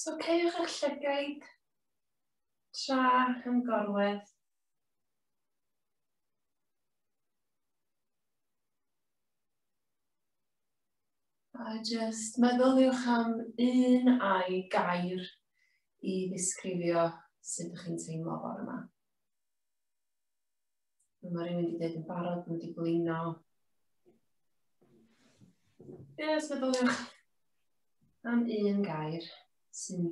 So cewch eich llygaid tra yn gorwedd. A jyst meddyliwch am un ai gair i ddisgrifio sut ydych chi'n teimlo fawr yma. Mae rhywun wedi dweud yn barod, mae wedi blino. Ie, os meddyliwch am un gair sy'n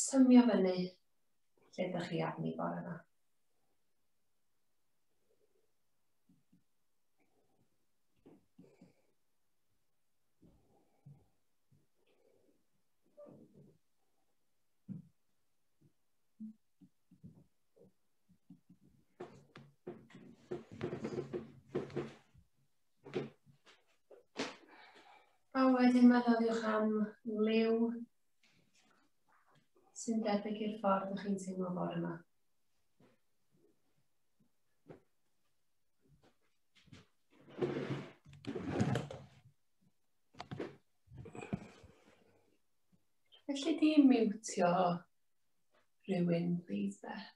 symio fyny lle ydych chi arni bore yma. A wedyn meddyliwch am liw sy'n debyg i'r ffordd ych chi'n teimlo fawr yma. Felly di miwtio rhywun, please, Beth.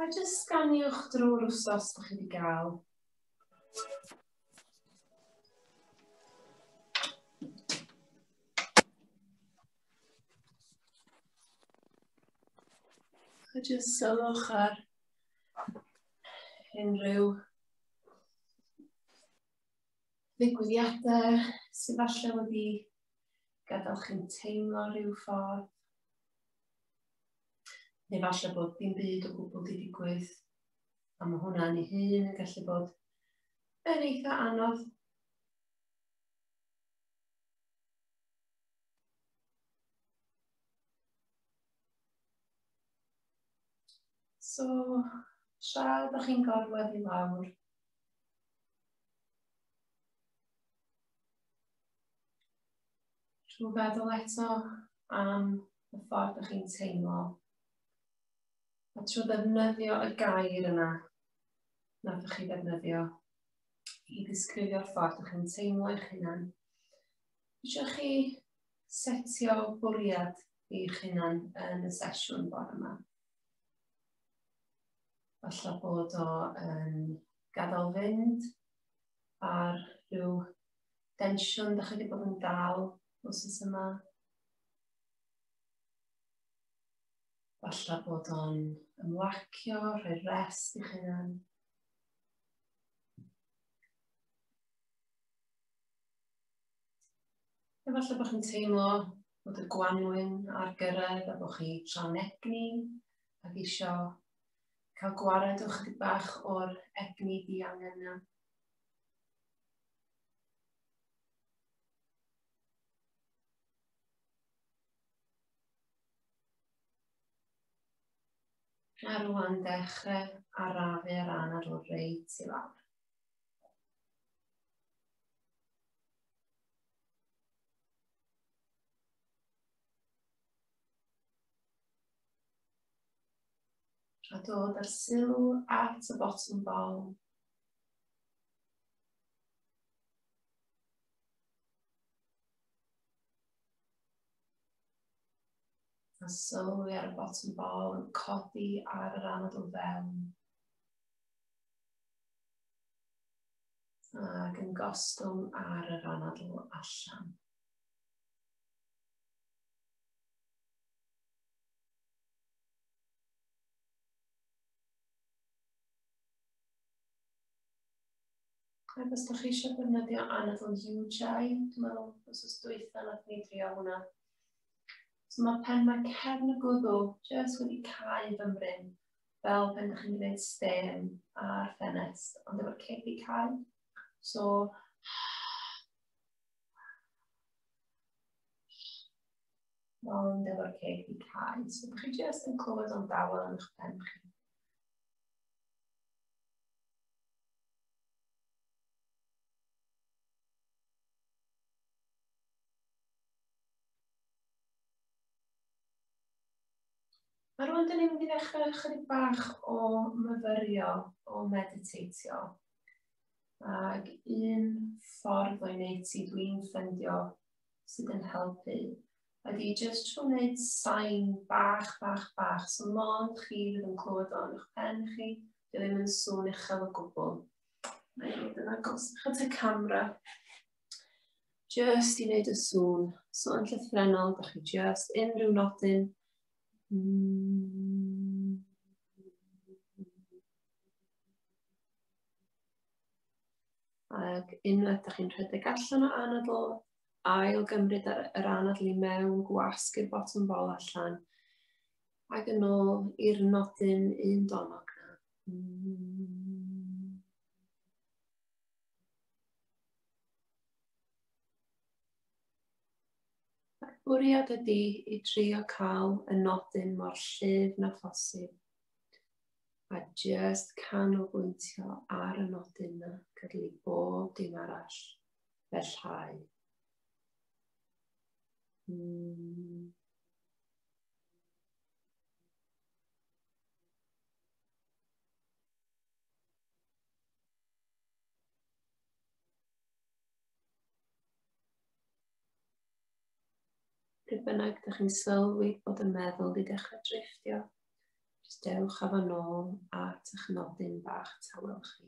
A jyst sganiwch drwy'r wsos bych chi wedi gael. A jyst sylwch ar unrhyw ddigwyddiadau sydd falle wedi gadael chi'n teimlo rhyw ffordd. Neu falle bod dim byd o gwbl wedi digwydd. A mae hwnna'n ei hun yn gallu bod yn eitha anodd. So, tra ydych chi'n gorwedd i lawr, trwy feddwl eto am y ffordd ydych chi'n teimlo, a trwy ddefnyddio y gair yna, na ydych chi ddefnyddio, i ddisgrifio'r ffordd ydych chi'n teimlo eich hunan, Eisiau chi setio bwriad i'ch hunan yn y sesiwn bore yma. Alla bod o yn gadael fynd ar rhyw densiwn da chi wedi bod yn dal os oes yma. Alla bod o'n ymlacio, rhoi rest i'ch hunan. Efallai bod chi'n teimlo bod y gwanwyn ar gyrraedd a bod chi tra'n egni ac eisiau cael gwared o'ch chydig bach o'r egni di angen yna. A rwan dechrau arafu ar ran ar ôl reit i lawr. A dod â'r sylw at y botwm bol. A sylwi ar y botwm bol yn codi ar yr anadl fewn. ac yn gostwng ar yr anadl allan. Ac os ydych chi eisiau defnyddio anadl UJI, dwi'n meddwl, os oes dwytha na ni drio hwnna. So mae pen mae cefn y gwddw jyst wedi cael fy mryn fel pan ydych chi'n gwneud stêm ar ffenest, ond efo'r cedi cael. So, ond efo'r cedi cael. So, ydych chi jyst yn clywed o'n dawel yn eich pen chi. A rwan dyn ni'n mynd i ddechrau chydig bach o myfyrio, o mediteitio. Ac un ffordd o'i wneud ti dwi'n ffendio sydd yn helpu ydy jyst trwy wneud sain bach, bach, bach. So mond chi fydd yn clywed o'n eich pen chi, dwi ddim yn sŵn uchel o gwbl. Mae hyn yn agos at y camera. Just i wneud y sŵn. So yn llythrenol, da chi just unrhyw nodyn. Mm. Ac unwaith da chi'n rhedeg allan o anadl, ail gymryd ar yr anadl i mewn, gwasg i'r bottom bol allan, ac yn ôl i'r nodyn un donog na. Mm. Mae'r bwriad ydy i drio cael y nodyn mor llyf na phosib a jyst canolbwyntio ar y nodyn na gydl i bob dim arall fel llai. Mm. Pryd bynnag ydych chi'n sylwi bod y meddwl wedi dechrau drifftio, jyst dewch â fo nôl at eich nodyn bach tawel chi.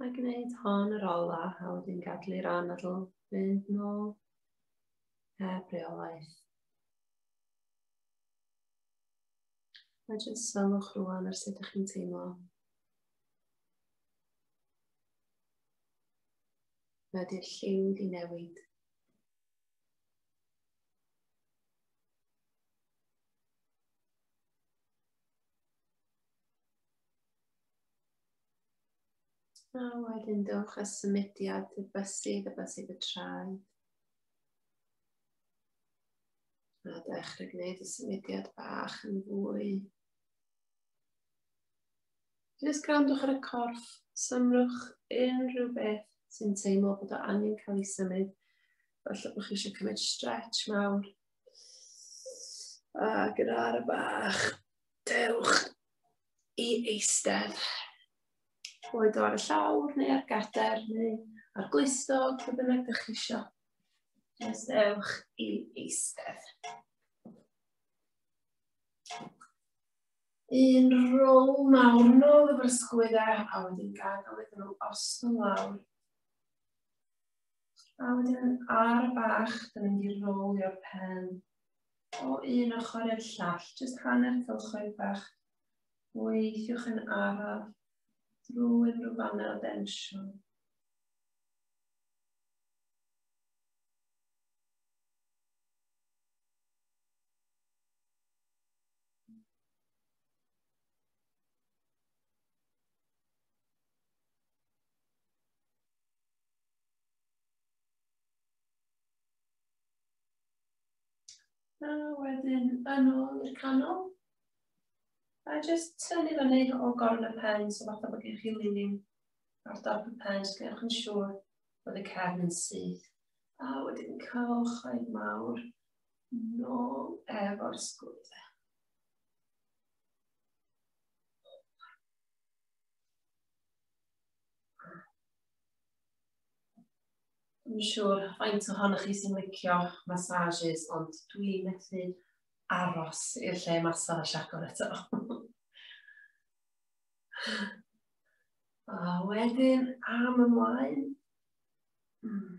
Mae gwneud hon yr ola a wedyn gadlu'r anadl fynd nôl heb reolaeth. A jyst sylwch rwan ar sut ydych chi'n teimlo. wedi'r lliw di newid. A wedyn dewch â symudiad y bysydd, y bysydd y traed. A dechrau gwneud y symudiad bach yn fwy Jyst grandwch ar y corff, symrwch unrhyw beth sy'n teimlo bod o angen cael ei symud. Felly bod chi eisiau cymryd stretch mawr. A gyda ar y bach, dewch i eistedd. Boed o ar y llawr neu ar gader neu ar glistog, fe bynnag ydych chi eisiau. Nes dewch i eistedd. Un rôl mawr nôl y brysgwyd e, a wedyn gadael iddyn nhw ostwng lawr. A wedyn ar y bach, dyn ni'n mynd i rolio'r pen o un ochr i'r llall, jyst hanner cylchoedd bach. Weithiwch yn araf drwy unrhyw fannau o densiwn. A wedyn yn ôl i'r canol. A jyst tynnu fyny o gorn y pen, so fath o bod gen chi linin ar dop y pen, jyst gwnewch yn siŵr bod y cefn yn syth. A wedyn cewch oedd mawr Nôl efo'r sgwyd. Dwi'n siŵr faint ohonoch chi sy'n licio massages, ond dwi'n methu aros i'r lle massage agor eto. A wedyn am ymlaen. Hmm.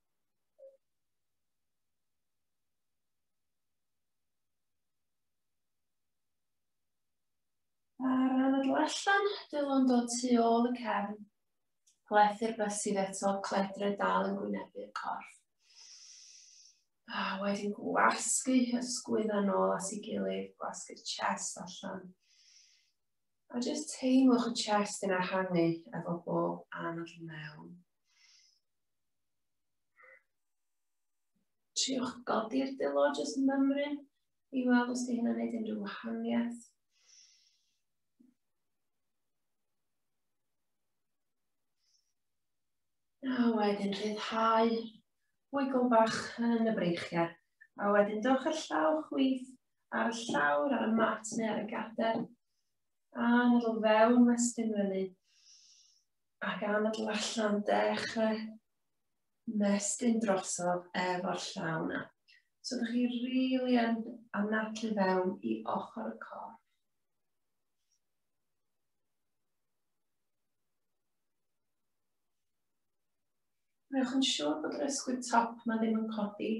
Ar ran y allan, dylwn dod tu ôl y cefn. Plethu'r bysydd eto, cledre dal yn gwynebu'r corff. A wedyn gwasgu hysgwydd yn ôl at ei gilydd, gwasgu'r chest allan. A jyst teimlwch y chest yn ehangu efo bob anadl mewn. Triwch godi'r dilo, jyst mymru i weld os di hynny'n gwneud unrhyw wahaniaeth. A wedyn rhyddhau wigl bach yn y breichiau. A wedyn dewch ar llaw chwith ar y llawr, ar y mat neu ar y gader. A nodl fewn westyn fyny. Ac anadl allan, dechrau mestyn drosodd efo'r llaw na. So ydych chi rili yn anadlu fewn i ochr y corff. Rwy'ch yn siŵr bod yr ysgwyd top yma ddim yn codi.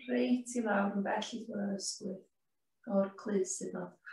Reit i lawr yn bell i ddod yr ysgwyd. O'r clus sydd ddod.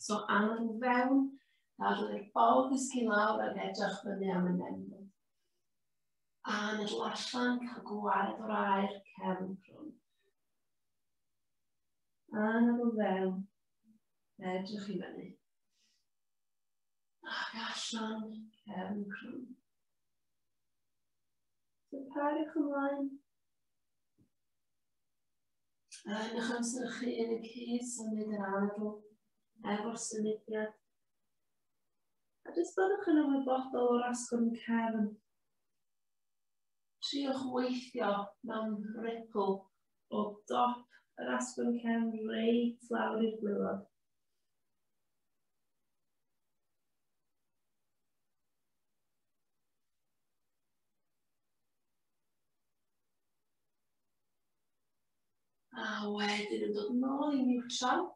So angen i fewn, dadlu'r bol ddysgu lawr ac edrych fyny am y nenfod. A meddwl allan, cael gwared o'r air cefn crwn. A meddwl fewn, edrych i fyny. Ac allan, cefn crwn. So pariwch ymlaen. A yn eich amser chi yn y cyd symud yr anadl efo'r symudiad. A jyst byddwch yn ymwybodol o'r asgwrn cefn. Triwch weithio mewn ripple o dop yr asgwrn cefn rei tlawr i'r gwylod. A wedyn yn dod nôl i niwtral.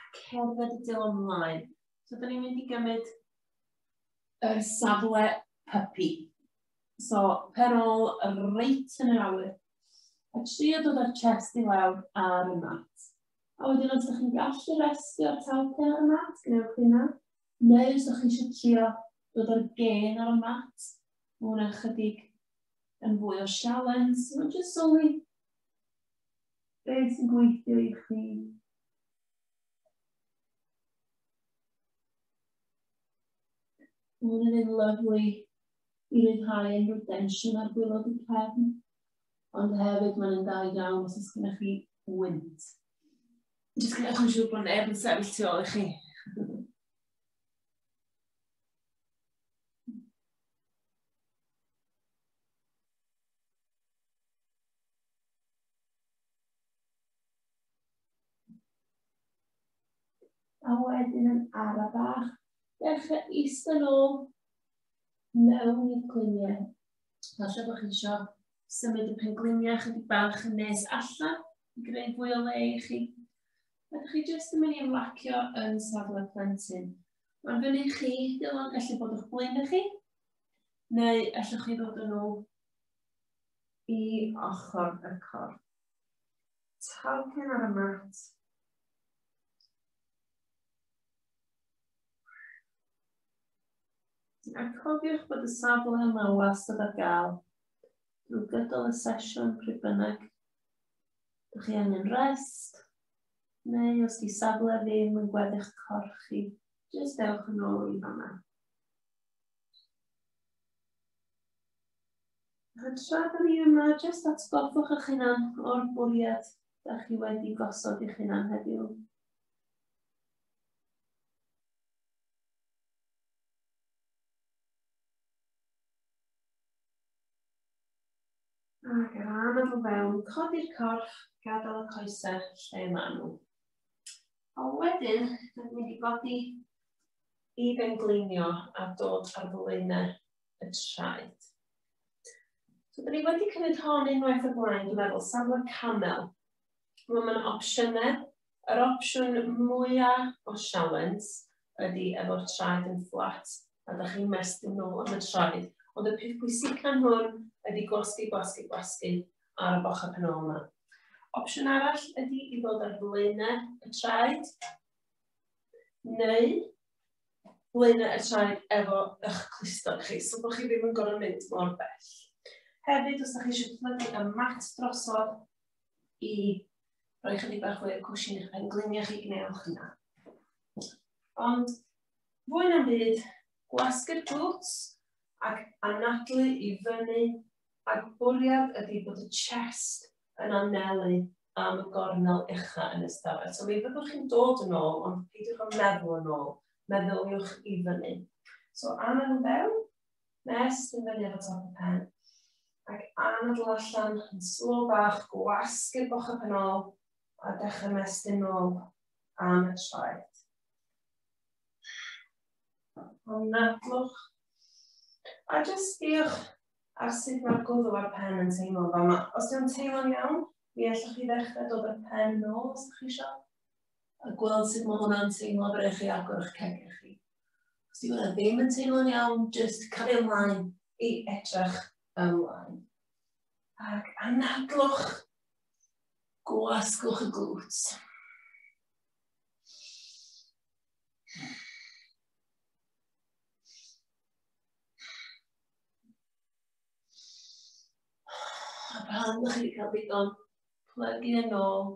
A cerdded y dil ymlaen. So, da ni'n mynd i gymryd yr safle puppy. So, pen ôl reit yn yr awyr. A tri o dod o'r chest i lawr ar y mat. A wedyn os ydych chi'n gallu restio o'r talpen ar y mat, gwnewch hynna. Neu os ydych chi eisiau trio dod o'r gen ar y mat, mae hwnna'n chydig yn fwy o sialens, mae'n jyst sylwi beth sy'n gweithio i chi. Mae'n yn un lyflu i ryddhau yn rhyw densiwn ar gwylod y cefn, ond hefyd mae'n yn da iawn os oes gennych chi wynt. Jyst gyda chi'n siŵr bod neb yn sefyll tu ôl i chi. A wedyn yn ara bach, dechrau eistedd ôl mewn i'r gliniau. Falle bod chi eisiau symud y pen gliniau chydig bach yn nes allan i greu fwy o le i chi. A chi jyst yn mynd i ymlacio yn safle plentyn. Mae'n fyny i chi, Dylan, felly bod o'ch blaen i chi, neu allwch chi ddod yn ôl i ochr y cor. Talcyn ar y mat, A cofiwch bod y safle yma wastad ar gael drwy gydol y sesiwn pryd bynnag. Dych chi angen rest, Neu os di safle ddim yn gweddi'ch corff chi, jyst ewch yn ôl i fanna. A tra da ni yma, jyst atgoffwch eich hunan o'r bwriad da chi wedi gosod eich hunan heddiw. Ac ar ran o fo fewn, codi'r corff, gadael y coesau lle maen nhw. A wedyn, dyn ni'n mynd i godi i bengleinio a dod ar flaenau y traed. So, dyn ni wedi cymryd hon unwaith o blaen, dwi'n meddwl, safle camel. Mae yna opsiynau Yr opsiwn mwya o sialens ydi efo'r traed yn fflat a da chi'n mestyn nôl am y traed. Ond y peth pwysica hwn ydi gwasgu, gwasgu, gwasgu ar y bocha pen ôl yma. Opsiwn arall ydy i ddod ar flaenau y traed, neu flaenau y traed efo eich clustog chi, so bod chi ddim yn gorfod mynd mor bell. Hefyd, os ydych chi eisiau plygu y mat drosodd i rhoi chydig bach fwy o cwsyn i'ch pen gliniau chi gwnewch hynna. Ond fwy na'm byd, gwasgu'r glwts ac anadlu i fyny a bwriad ydy bod y chest yn anelu am y gornel ucha yn y stafell. So mi fyddwch chi'n dod yn ôl, ond peidiwch yn meddwl yn ôl, meddyliwch i fyny. So anelu fewn, nes i fyny efo top y pen, ac anadl allan yn slo bach, gwasgu'r bochau pen ôl, a dechrau mestyn nôl am y traed. Anadlwch. A jyst sbiwch ar sut mae'r gwddw a'r pen yn teimlo fa yma. Os yw'n teimlo'n iawn, mi allwch chi ddechrau dod â'r pen nôl os ydych chi eisiau, a gweld sut mae hwnna'n teimlo bre chi agor eich cegau chi. Os di hwnna ddim yn teimlo'n iawn, just cario ymlaen i edrych ymlaen. Ac anadlwch, gwasgwch y glwt. A pan ydych chi wedi cael digon, plygu yn ôl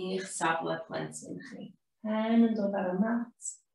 i'ch safle plentyn chi. Pen yn dod ar y mat,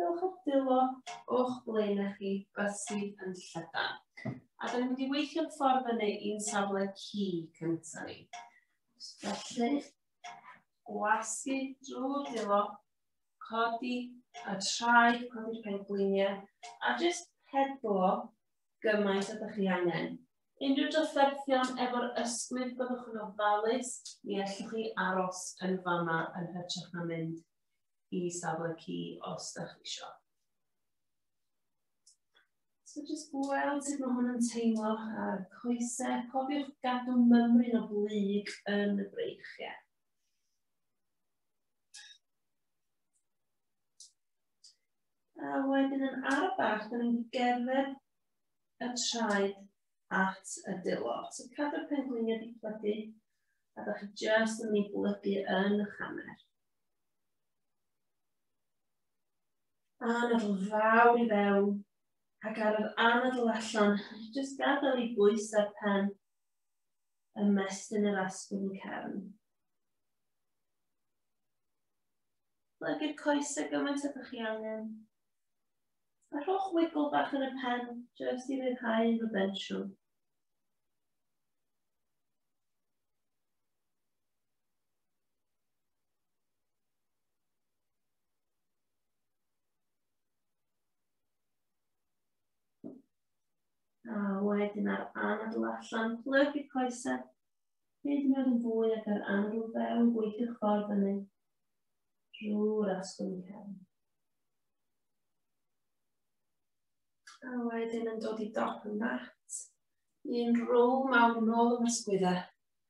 Dewch at dwylo o'ch ble na chi beth sydd yn llydan. A da ni'n mynd i weithio'n ffordd fyny i'n safle ci cyntaf ni. Felly, gwasgu drwy dwylo, codi a trai, codi'r pengliniau, a jyst pedlo gymaint o ydych chi angen. Unrhyw drafferthion efo'r ysgwydd byddwch yn ofalus, mi allwch chi aros yn fama yn hytrach na mynd i safle ci os da chi eisiau. So jyst gweld sut mae hwn yn teimlo ar coesau. Cofiwch gadw mymryn o blyg yn y breichiau. A wedyn yn arfach, da ni'n gerdded y traed at y dilo. So cadw'r pengliniau di plygu, a da chi jyst yn mynd i blygu yn y chamer. Anadl fawr i fewn ac ar yr anadl allan, jyst gadael i bwys ar pen y mestyn yr asgwrn y cefn. Plygu'r coesau gymaint ydych chi angen. A rhowch wigl bach yn y pen, jyst i ryddhau yn y bensiwn. A wedyn ar anadl allan, plyg y coesau. Hyd yn oed yn fwy ac ar anadl fewn, gweithio ffordd fyny. Drwy'r asgwrn i hefn. A wedyn yn dod i dop y mat. Un rôl mawr yn ôl yn ysgwydda.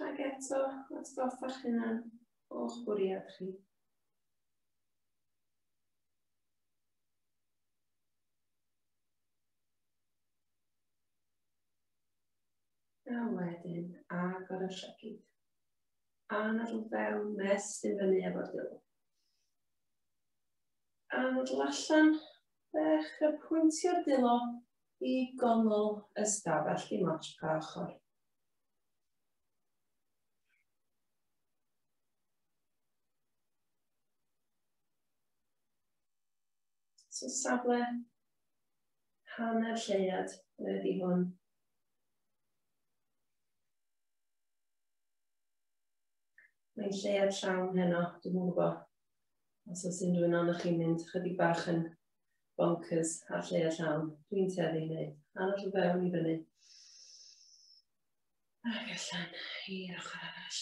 Rhaid eto atgoffa'ch hunan o'ch bwriad chi. A wedyn, agor y llygyd. A nad yn fewn mes sy'n fyny efo'r dilwg. A nad allan, bech y pwyntio'r dilo i gongol ystafell dim ots pa ochr. So safle hanner lleiad ydy hwn. Mae'n lleiad llawn heno, dwi'n mwyn gwybod. Os oes unrhyw un o'n chi'n mynd chydig bach yn bonkers ar lle a llawn. Dwi'n tueddu i wneud. Anod o fewn i fyny. Ac allan i'r ochr arall.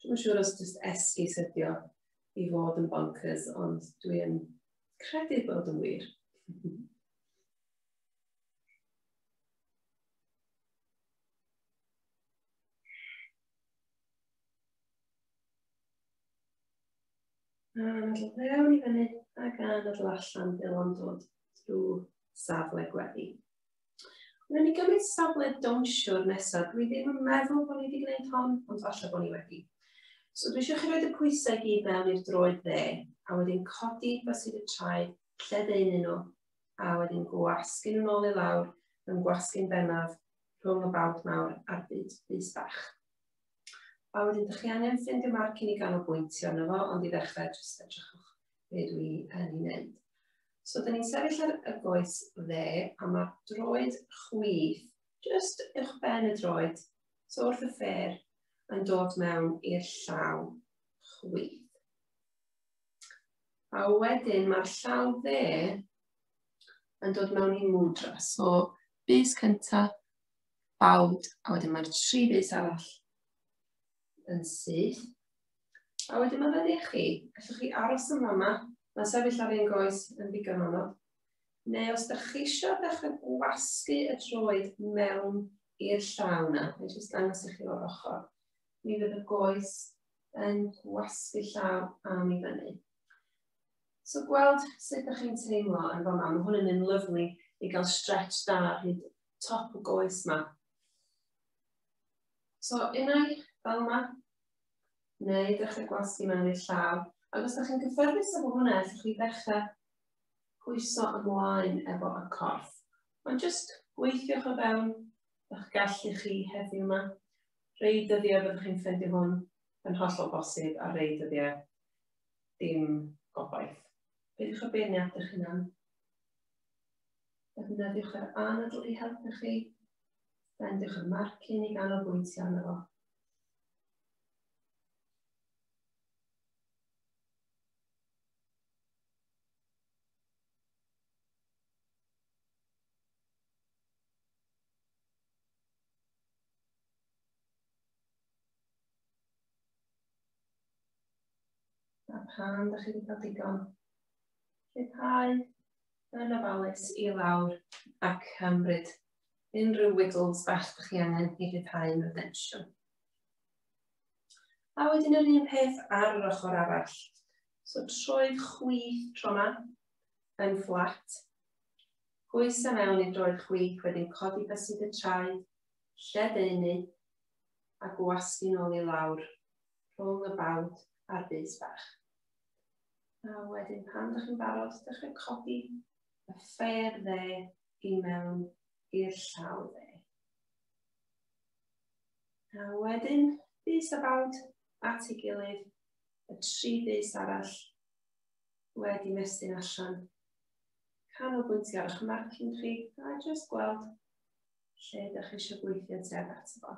Dwi'n siŵr os jyst esgu sydio i fod yn bonkers, ond dwi'n credu bod yn wir. A nadl fewn i fyny ac a nadl allan fel o'n dod drwy safle gweddi. Rwy'n ni gymryd safle downsio'r nesaf. Dwi ddim yn meddwl bod ni wedi gwneud hon, ond falle bod ni wedi. So dwi eisiau chi roed y pwysau gyd mewn i'r droed dde, a wedyn codi basid y traed, lle ddeun nhw, a wedyn gwasgu nhw'n ôl i lawr, yn gwasgu'n bennaf rhwng y bawd mawr a'r byd bys bach. A wedyn dych chi angen ffrind y marc i ni ganolbwyntio arno fo, ond i ddechrau jyst edrychwch be dwi yn ei wneud. So dyn ni'n sefyll ar y goes dde, a mae droed chwith, jyst uwch ben y droed, so wrth y ffer, yn dod mewn i'r llaw chwith. A wedyn mae'r llaw dde yn dod mewn i mudra. So, bus cyntaf, Bawd, a wedyn mae'r tri bys arall yn syth. A wedyn mae fyny i chi, allwch chi aros yn fama, mae sefyll ar ein goes yn ddigon anodd. Neu os ydych chi eisiau ddechrau gwasgu y droed mewn i'r llaw na, mae jyst dangos i chi o'r ochr, mi fydd y goes yn gwasgu llaw am i fyny. So gweld sut ydych chi'n teimlo yn fama, mae hwn yn un lyflu i gael stretch da hyd top y goes ma. So unai fel yma, neu dechrau gwasgu mewn i'r llaw. Ac os ydych chi'n cyffyrddus efo hwnna, allwch chi ddechrau pwyso ymlaen efo y corff. Ond jyst gweithiwch o fewn eich gallu chi heddiw yma. Rei dyddiau byddwch chi'n ffeindio hwn yn hollol bosib a rei dyddiau dim gobaith. Beidiwch o beirniad eich hunan. Defnyddiwch yr anadl i helpu chi. Bendiwch y marcyn i ganolbwyntio arno fo. pan ydych chi wedi cael digon. Lleihau Yn ofalus i lawr ac ymryd unrhyw wiggles bach ydych chi angen i ryddhau mewn densiwn. A wedyn yr un peth ar yr ochr arall. So troi'ch chwith tro yma yn fflat. Pwysa mewn i droi'r chwith, wedyn codi bysyd y traed, lledaenu a gwasgu'n ôl i lawr rhwng y bawd a'r bys bach. A wedyn pan ydych chi'n barod, dechrau codi y ffer dde i mewn i'r llaw dde. A wedyn, bus a bawd at ei gilydd, y tri bus arall wedi mestyn allan. Canolbwyntio ar eich marcing chi a jyst gweld lle ydych chi eisiau gweithio tuag ato fo.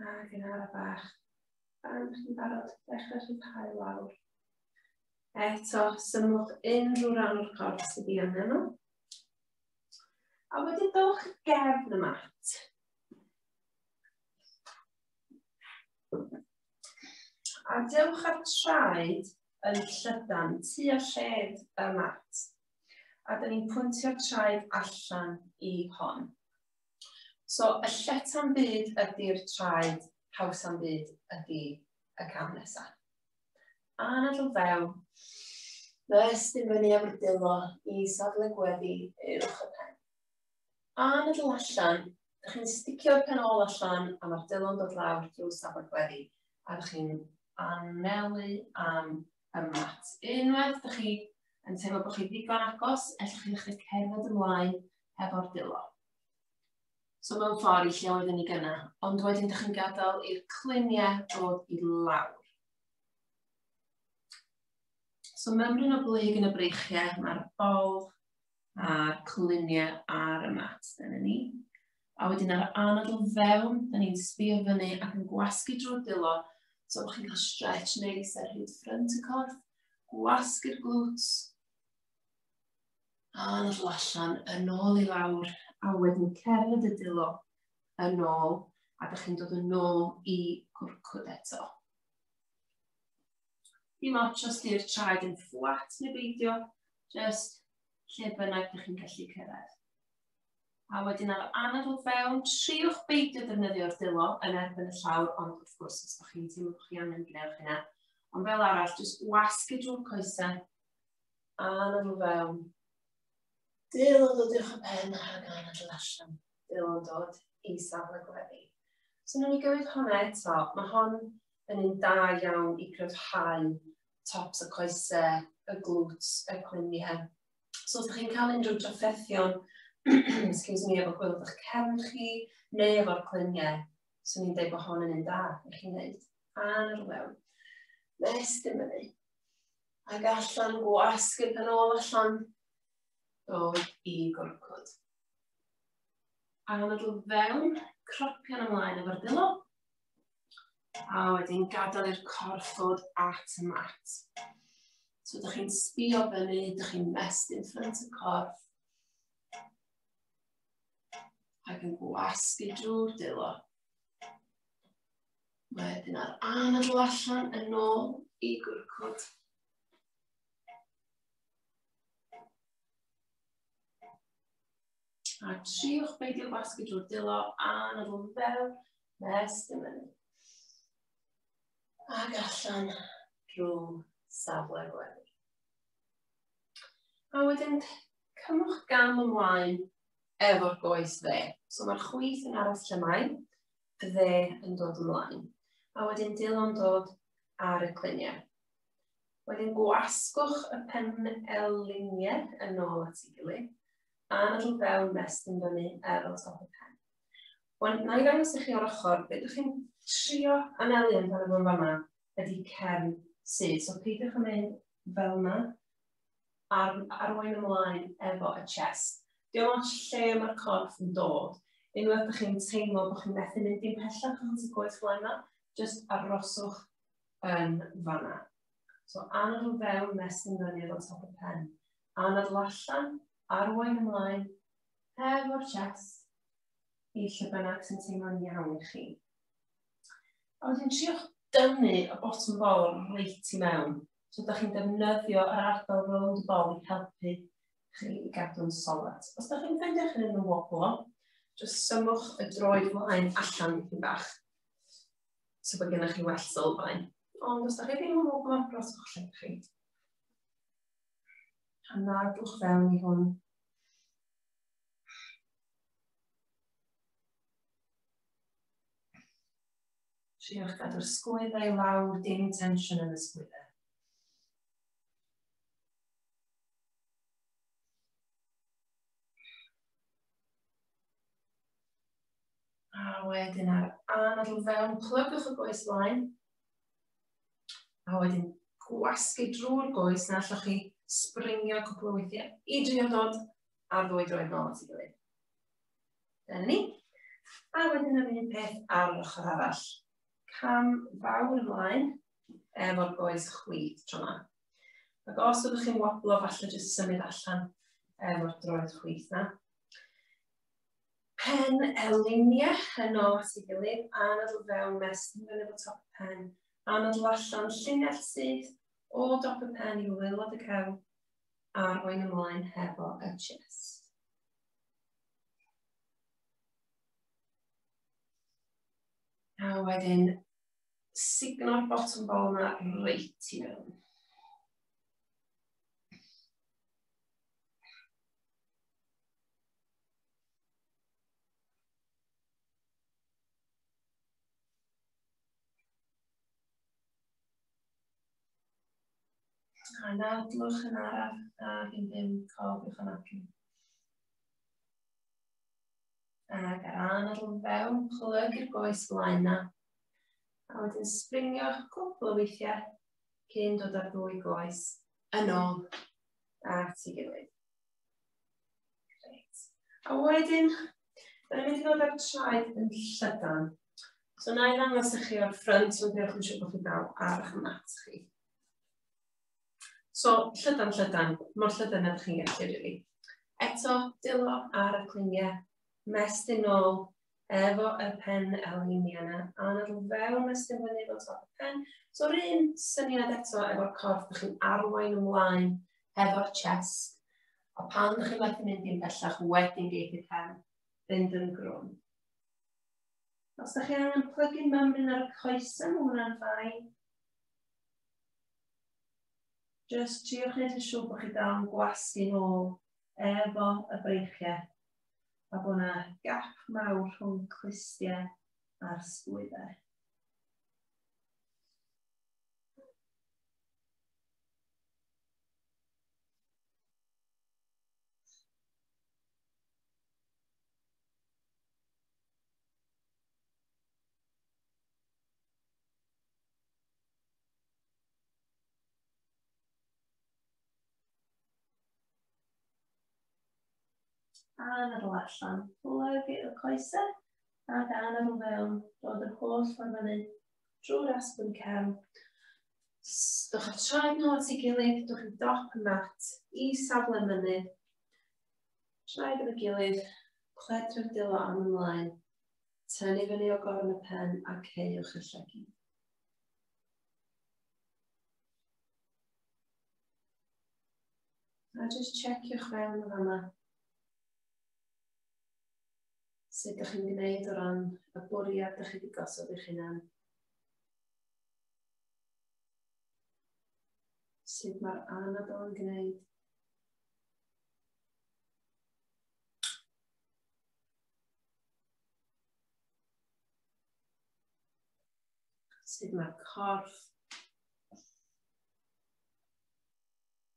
Ac yn araf bach. Fan ydych chi'n barod, dechrau chi'n cael lawr. Eto, symwch unrhyw ran o'r corff sydd i angen nhw. A wedyn dowch gefn y mat. A dewch ar traed yn llydan tu a lled y mat. A dyn ni'n pwyntio traed allan i hon. So, y lleta'n byd ydy'r traed, hawsa'n byd ydy y cam nesaf. A na drwy fewn, nes dim fyny am dilo i safle gweddi uwch y pen. A na drwy allan, ydych chi'n sticio'r pen ôl allan a mae'r dilo'n dod lawr drwy safle gweddi a ydych chi'n anelu am y mat. Unwaith ydych chi yn teimlo bod chi ddigon agos, ellwch chi'n eich cerdded ymlaen hefo'r dilo. So mewn ffordd i lle oeddwn ni gyna, ond wedyn ydych chi'n gadael i'r cluniau dod i lawr. So mymryn o blyg yn y breichiau, mae'r bol a'r cwluniau ar y mat, dyna ni. A wedyn ar anod o fewn, da ni'n sbio fyny ac yn gwasgu drwy'r dilo, so bod chi'n cael stretch neis ar hyd ffrynt y corff, gwasgu'r glwts, a anadl allan, yn ôl i lawr, a wedyn cerdded y dilo yn ôl, a da chi'n dod yn ôl i gwrcwd eto. Dim ots os di'r traed yn fflat neu beidio, just lle bynnag ydych chi'n gallu cyrraedd. A wedyn ar anad o fewn, triwch beidio defnyddio'r dilo yn erbyn y llawr, ond wrth gwrs, os ydych chi'n teimlo bod chi angen gwneud hynna. Ond fel arall, jyst wasgu drwy'r coesau, anad o fewn. Dil o dod i'ch pen ar y gan adl allan. Dil o'n dod i safle gweddi. So, nhw'n i gywir hwnna eto. Mae hon yn un da iawn i gryfhau tops y coesau, y glwt, y cwyniau. So os ydych chi'n cael unrhyw drafferthion, excuse me, efo gwylod o'ch cefn chi, neu efo'r clyniau, swn i'n dweud bod hon yn un da i chi'n neud. Ar mewn. Nes dim yn ei. Ac allan gwasg yn pen ôl allan. Dod i gorcod. Anadl fewn, cropian ymlaen efo'r dilo. A wedyn gadael i'r corff fod at y mat. So ydych chi'n sbio fyny, ydych chi'n mest in front y corff. Ac yn gwasgu drwy'r dilo. Wedyn ar anadl allan yn ôl i gwrcwd. A triwch beidio gwasgu drwy'r dilo a na fwm fel nes dim mynd. Ac allan drwy safle gwely. A wedyn cymwch gam ymlaen efo'r goes dde. So mae'r chwith yn aros lle mae, dde yn dod ymlaen. A wedyn dilo'n dod ar y cliniau. Wedyn gwasgwch y pen eliniau yn ôl at ei gilydd a nad o'n fewn mes yn fyny er o top y pen. Wel, na i ddangos i chi o'r ochr, beth ydych chi'n trio anelu yn fan efo'n fanna ydy cefn sydd. So peidiwch yn mynd fel yna, ar, arwain ymlaen efo y chest. Diolch ots lle mae'r corff yn dod. Unwaith ydych chi'n teimlo bod chi'n methu mynd i'n pellach yn y gwaith fel yna, jyst aroswch yn fanna. So anol o fewn mestyn fyny efo top y pen. anadl allan, arwain ymlaen, hef o'r chest, i lle bynnag sy'n teimlo'n iawn i chi. A wedyn triwch dynnu y bottom bol reit i mewn. So, da chi'n defnyddio yr ardal rownd y bol i helpu chi i gadw'n solet. Os da chi'n ffeindio chi'n yn y woblo, jyst symwch y droed flaen allan i bach. So bod gennych chi well sylfaen. Ond os da chi ddim yn woblo, broswch lle chi. Hana, dwch fewn i hwn. Triwch gadw'r sgwyddau lawr, dim tensiwn yn y sgwyddau. A wedyn ar anadl fewn, plygwch y goes flaen. A wedyn gwasgu drwy'r goes na allwch chi springio cwpl o weithiau i drio dod a ddwy droed nôl at ei gilydd. Dyna ni. A wedyn yr un peth ar yr ochr arall. Cam fawr ymlaen efo'r goes chwith tro yma. Ac os ydych chi'n woblo, falle jyst symud allan efo'r droed chwith na. pen elinia yn ôl at ei gilydd, anadl fewn mes yn fyny fo top y pen, anadl allan llinell syth o dop y pen i waelod y cefn, arwain ymlaen hefo y chest. A wedyn, signo'r bottom ball yma reit i fewn. A nawr dwch yn araf a fi'n ddim cof i'ch anafu. Ac ar ran ar ôl fewn, chlyg i'r goes flaen na. A wedyn springio'ch cwpl o weithiau cyn dod ar ddwy goes. Yn ôl. Ac ti gilydd. Reit. A wedyn, da ni'n mynd i ddod â'r traed yn llydan. So na i ddangos i chi o'r ffrynt, ond diolch yn siŵr bod chi'n dal ar eich mat chi. So, llydan, llydan, mor llydan ydych chi'n gallu, rili. Eto, dilo ar y cliniau, mestyn ôl, efo y pen elini yna, a nad nhw fewn a sdim fyny efo top y pen. So yr un syniad eto efo'r corff, ydych chi'n arwain ymlaen efo'r chest, a pan ydych chi'n methu mynd i'n bellach wedyn geith y pen fynd yn grwn. Os ydych chi angen plygu mymryn ar y coesau, mae hwnna'n ffain. Just triwch wneud yn siŵr bod chi dal yn gwasgu'n ôl efo y breichiau a bod yna gap mawr rhwng clustiau a'r sgwyddau. a na ddod allan, plygu y coesau, a da na ddod fewn, dod yr holl ffordd fyny, drwy'r asbyn cefn, Dwch â'ch traed nôl at ei gilydd, dwch i dop y mat, i safle mynydd. Traed yn y gilydd, cledrwm dilo am ymlaen. Tynnu fyny o gorn y pen a ceiwch y llegi. A jyst checio'ch fewn yn fanna. Sut ydych chi'n gwneud o ran y bwriad ydych chi wedi gosod eich hunan. Sut mae'r anadl yn gwneud. Sut mae'r corff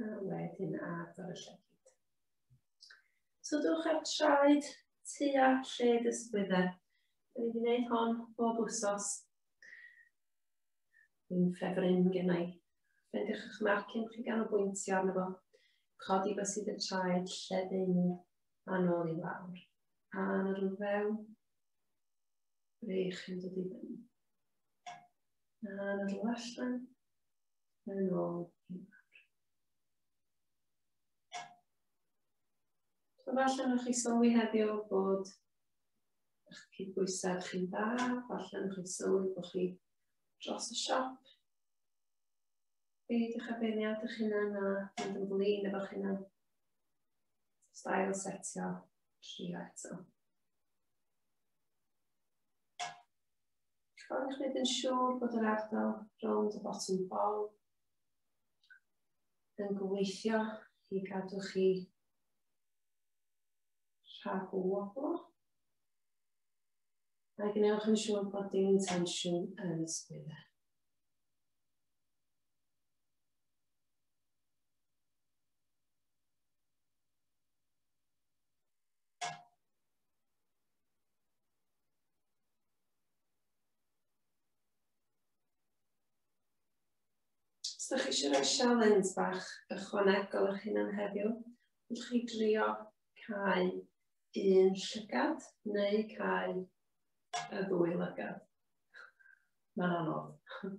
A wedyn agor y llygyd. So dwch ar traed tua lle dysgwydder. Dwi wedi gwneud hon bob wsos. Dwi'n ffefryn gen i. Rhaid eich marcyn chi gan o bwyntio arno fo. Codi fo sydd y traed lle ddim a nôl i lawr. A yn yr fewn. Ble chi'n dod i fyny. A yn y allan, yn ôl i lawr. Falle nhw'ch chi sylwi heddiw bod eich cydbwysedd chi'n dda, falle nhw'ch chi sylwi bod chi dros y siop. Byd eich abeiniad eich hunan a mynd yn flin efo'ch hunan. Stael setio tri eto. Rwy'n gwneud yn siŵr bod yr ardal rownd y bottom bol yn gweithio i gadw chi rhag o woblo. Mae gwnewch yn siŵr bod dim intensiwn yn y sgwydda. Os da chi eisiau rhoi sialens bach ychwanegol eich hunan heddiw, ydych chi drio cael un llygad neu cael y ddwy lygad. Mae'n anodd.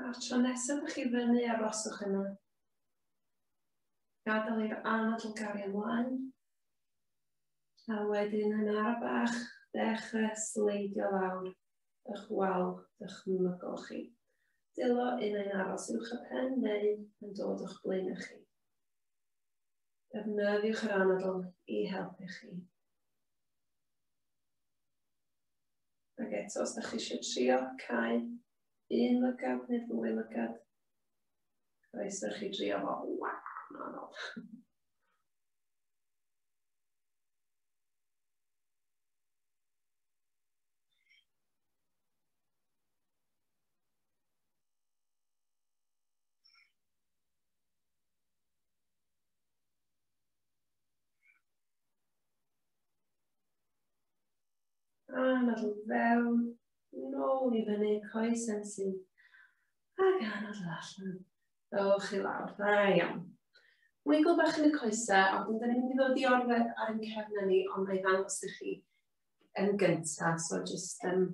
A'r tro nesaf ych chi fyny a roswch yna. Gadael i'r anadl gario ymlaen. A wedyn yn ar bach, dechrau sleidio lawr ych wal dychmygol chi. Dilo un ein aros uwch y pen neu yn dod o'ch blaen ych chi. Defnyddiwch yr anadl i helpu chi. Ac eto, os ydych chi eisiau trio cael un lygad neu ddwy lygad, roes ydych chi drio fo, waw, mae'n anodd. A nod yn fewn, nôl i fyny, coes yn sy'n. Ac a nod allan. Dowch chi lawr, dda iawn. Wiggle bach yn y coesau, ond dyn ni'n mynd i ddod i orfod ar ein cefnau ni, ond mae ddangos i chi yn gyntaf, so jyst um,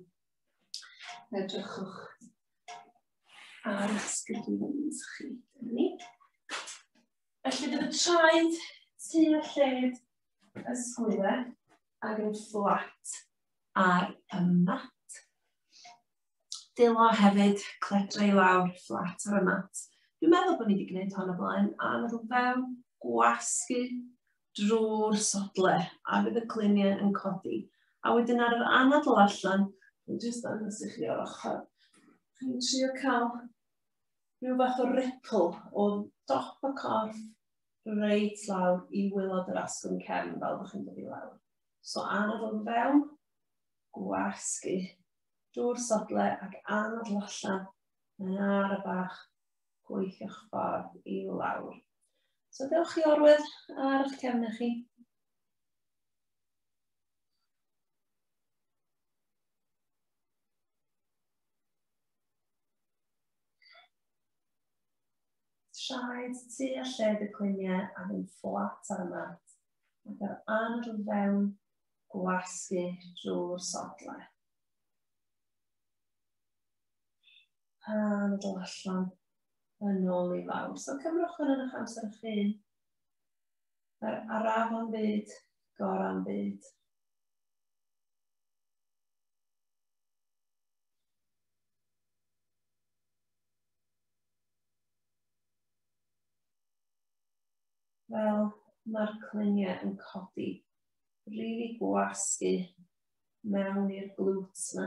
edrychwch ar y sgydwins chi. Ni. Felly bydd y traed tu a lled y sgwylau. ac yn fflat ar y mat. Dilo hefyd cledra i lawr fflat ar y mat. Dwi'n meddwl bod ni wedi gwneud hon o blaen, a mae rhywun fewn gwasgu drwy'r sodle, a bydd y cluniau yn codi. A wedyn ar yr anadl allan, dwi'n just dangos i chi o'r ochr, chi'n trio cael rhyw fath o ripple o dop y corff reit lawr i wylod yr asgwrn cefn fel bych chi'n dod i lawr. So anod o'n fewn, gwasgu, dŵr sodle ac anod allan yn ar y bach gweithio'ch ffordd i lawr. So dewch i orwedd ar eich cefn chi. traed tu a lled y cliniau a fynd fflat ar y mat ac ar anadl fewn gwasgu drwy'r sodle. Anadl allan yn ôl i fawr. So cymrwch hwn yn eich amser eich hun. Yr araf am byd, gor am byd. Wel, mae'r cluniau yn codi rili gwasgu mewn i'r glwt yma.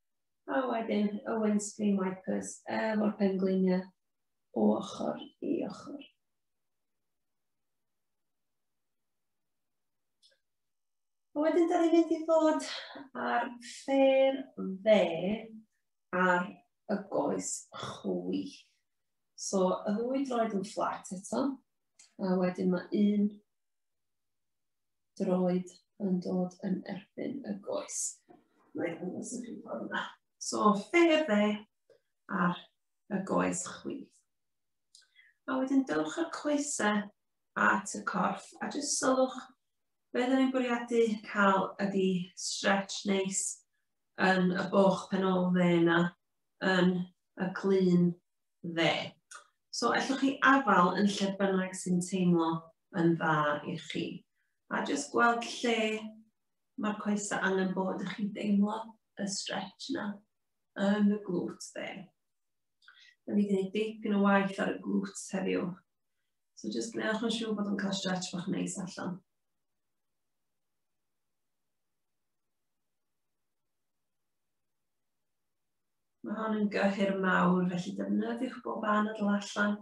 A wedyn Owen Screen Wipers efo'r pengliniau o ochr i ochr. A wedyn da ni'n mynd i fod ar ffeir dde ar y goes chwyth. So, y ddwy droed yn fflat eto, a wedyn mae un droed yn dod yn erbyn y goes. Mae'n dangos y chi ffordd yna. So, finger dde ar y goes chwith. A wedyn dylwch y coesau at y corff a jyst sylwch be dyn ni'n bwriadu cael ydy stretch neis yn y boch pen ôl dde yna yn y clun dde. So, allwch chi afal yn lle bynnag sy'n teimlo yn dda i chi. A jyst gweld lle mae'r coesau angen bod, ych chi'n deimlo y stretch yna yn y glwt dde. Da ni wedi gwneud yn y waith ar y glwt heddiw. So jyst gwnewch yn siŵr bod yn cael stretch bach neis allan. Mae hon yn gyhyr mawr, felly defnyddiwch bob anadl allan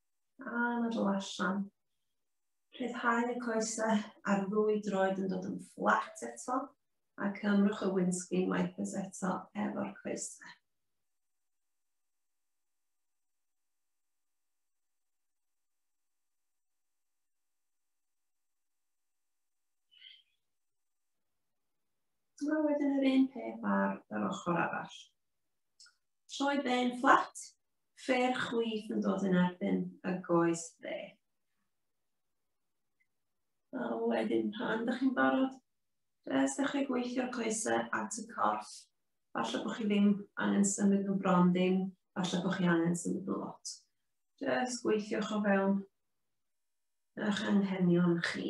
A na dro allan. Rhyddhau y coesau a'r ddwy droed yn dod yn fflat eto a cymrwch y windscreen wipers eto efo'r coesau. A wedyn yr un peth ar yr ochr arall. Troi ben fflat fer chwith yn dod yn erbyn y goes dde. A wedyn pan ydych chi'n barod, rhes ydych chi'n gweithio'r coesau at y corff. Falle bod chi ddim angen symud nhw bron ddim, falle bod chi angen symud nhw lot. Rhes gweithiwch o fewn eich anghenion chi.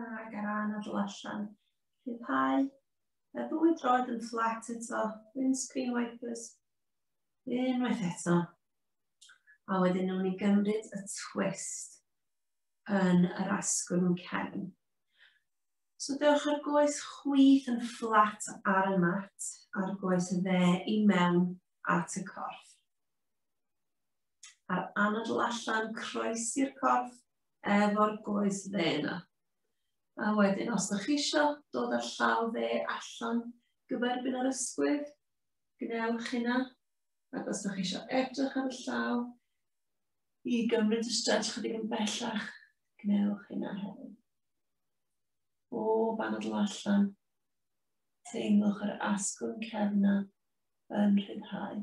Ac ar ran adl allan. Rhyddhau. A ddwy droed yn fflat eto. Windscreen wipers. Unwaith eto. A wedyn nhw'n i gymryd y twist yn yr asgwrn cefn. So dewch ar goes chwith yn fflat ar y mat, ar goes y dde i mewn at y corff. a'r anadl allan, croes i'r corff, efo'r goes dde yna. A wedyn, os ydych chi eisiau dod â'r llaw dde allan, gyferbyn ar ysgwydd, gwnewch hynna. Ac os ydych chi eisiau edrych ar y llaw, i gymryd y stretch chydig yn bellach, gwnewch hynna hefyd. O, banadl allan, teimlwch yr asgwrn cefna yn rhyddhau.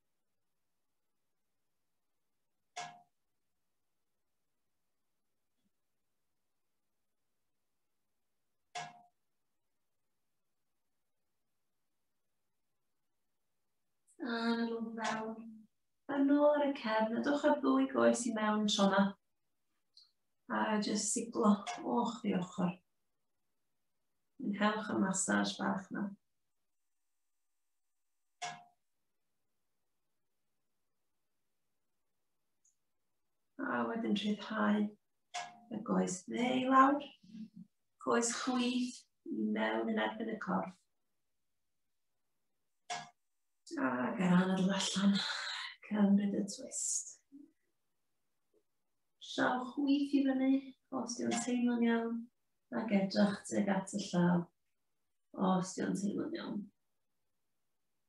Yn ôl fewn. Yn ôl ar y cefn, a dwch ar ddwy goes i mewn tro yma. A jyst siglo o'ch di ochr. Yn helch y massage bach yna. A wedyn rhyddhau y goes dde i lawr. Goes chwith i mewn yn erbyn y corff. A gael anad o allan. Cymryd y twist. Llaw chwith i fyny, os di'n teimlo'n iawn, ac edrych tuag at y llaw, os di'n teimlo'n iawn.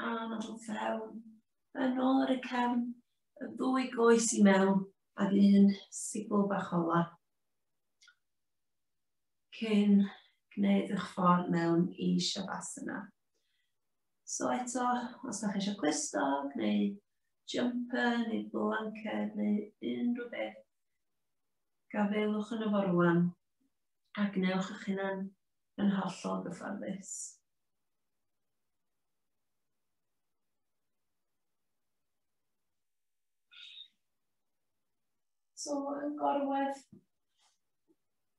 rhan o fewn. Yn ôl ar y cefn, y ddwy goes i mewn, a'r un sigl bach ola. cyn gwneud eich ffordd mewn i Shavasana. So eto, os ydych eisiau clusto, neu jumper, neu blanket, neu unrhyw beth, gafelwch yn y fo rwan, a gwnewch eich hunan yn hollol gyfforddus. So, yn gorwedd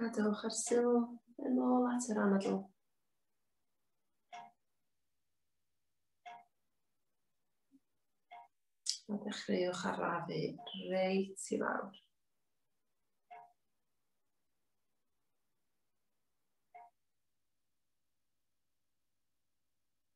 Gadewch yr sylw yn ôl at yr anadl. A dechreuwch arafu reit i lawr.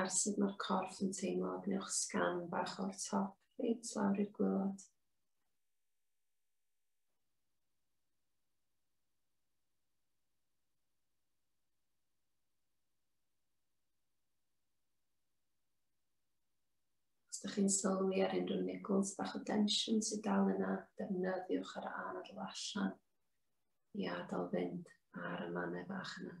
Ar sut mae'r corff yn teimlo, gwnewch sgan bach o'r top, reit lawr i'r gwylod. Os ydych chi'n sylwi ar unrhyw niggles bach o densiwn sydd dal yna, defnyddiwch yr anadl allan i adael fynd ar y mannau bach yna.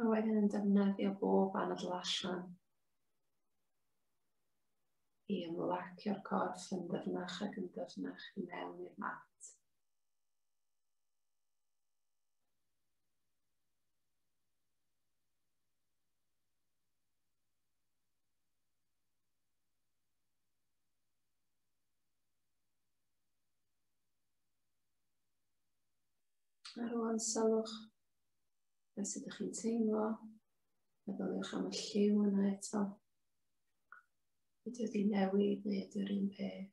A wedyn yn defnyddio bob anadl allan i ymlacio'r corff yn ddyfnach ac yn ddyfnach i mewn i'r mat. Ar ôl sylwch Beth sydd ydych chi'n teimlo? Meddyliwch am y lliw yna eto. Ydy wedi newid neu ydy'r un peth?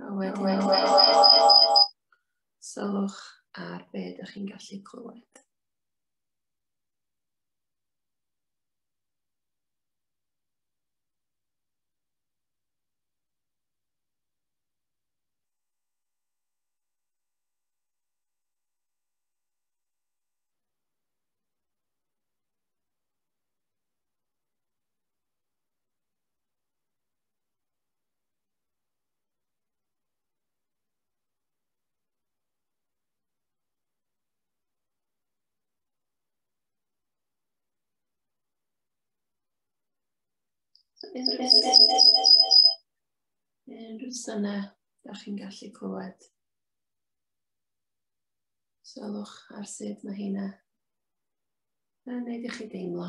A wedyn sylwch ar be ydych chi'n gallu clywed. Unrhyw syna, da chi'n gallu clywed. Sylwch ar sut mae hynna yn gwneud i chi deimlo.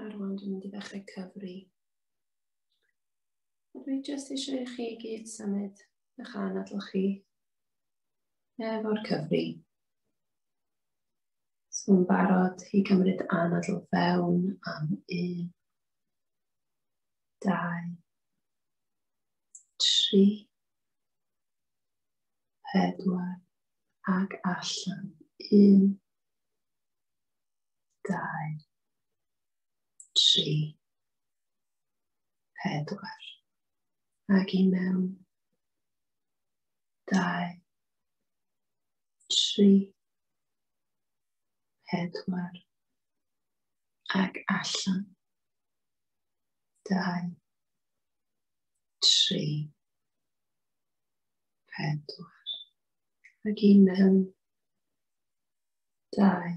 A rwan dwi'n mynd i ddechrau cyfri. A dwi jyst eisiau i chi gyd symud eich anadl chi efo'r cyfri. Swn barod i gymryd anadl fewn am un, dau, tri, pedwar ac allan. Un, dau, tri, pedwar, ac i mewn, dau, tri, pedwar, ac allan, dau, tri, pedwar, ac i mewn, dau,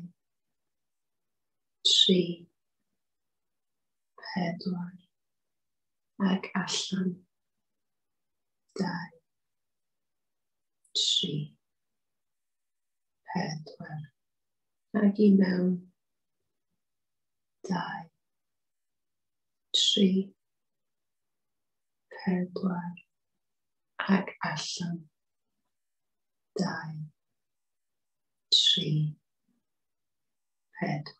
tri, pedwar, ac allan, dau, tri, pedwar, ac i mewn, dau, tri, pedwar, ac allan, dau, tri, pedwar.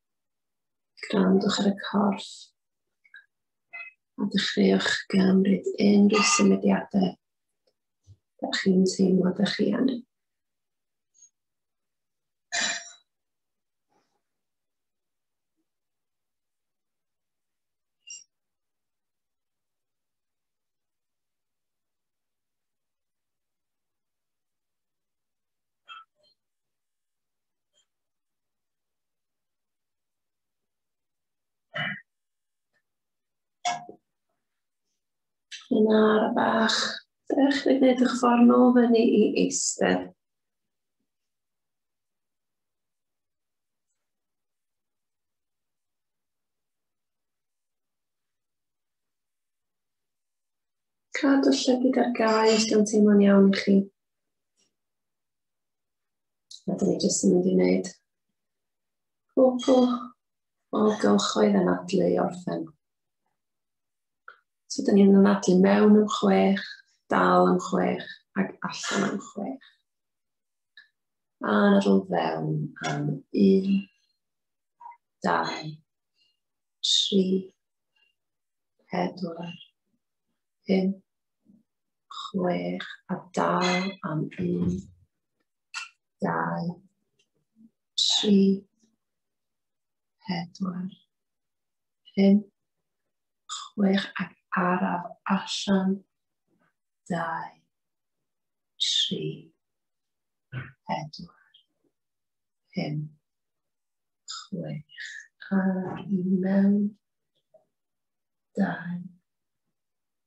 Grandwch ar y corff a dechreuwch gymryd unrhyw symudiadau da chi'n teimlo da chi angen. Yn ar bach, ddech chi gwneud eich ffordd nôl fyny i eistedd. Cadw llygyd ar gael os ydyn teimlo'n iawn i chi. A dyn ni jyst yn mynd i wneud cwbl o gylchoedd anadlu i orffen. So dyn ni'n anadlu mewn yn chwech, dal yn chwech ac allan yn chwech. A nadl fewn am un, dau, tri, pedwar, pum, chwech a dal am un, dau, tri, pedwar, pum, chwech ac araf allan, dau, tri, pedwar, pum, chwech, ar i mewn, dau,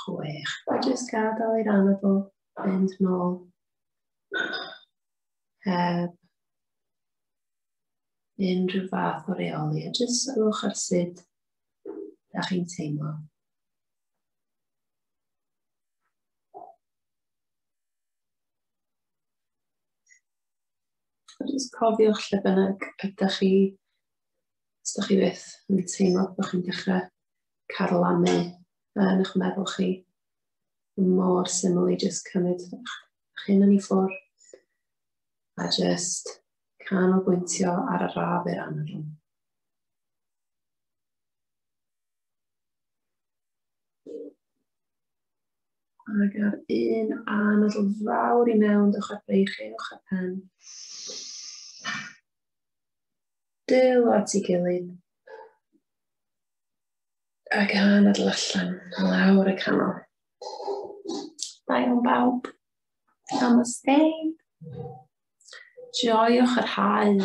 chwech. A jyst gadael i'r anadl fynd nôl. Heb unrhyw fath o reoli, a jyst sylwch ar sut da chi'n teimlo. A jyst cofiwch lle bynnag ydych chi, os ydych chi byth yn teimlo bod chi'n dechrau carlamu yn eich meddwl chi. Mor syml i just cymryd eich hyn yn ei ffwrdd a just canolbwyntio ar y raf i'r anadl. Ac ar un anadl fawr i mewn, dewch ar breichu, dewch ar pen. Dyl at ei gilydd. A gan adl allan, lawr y canol. Da iawn bawb. Namaste. Joiwch yr hael.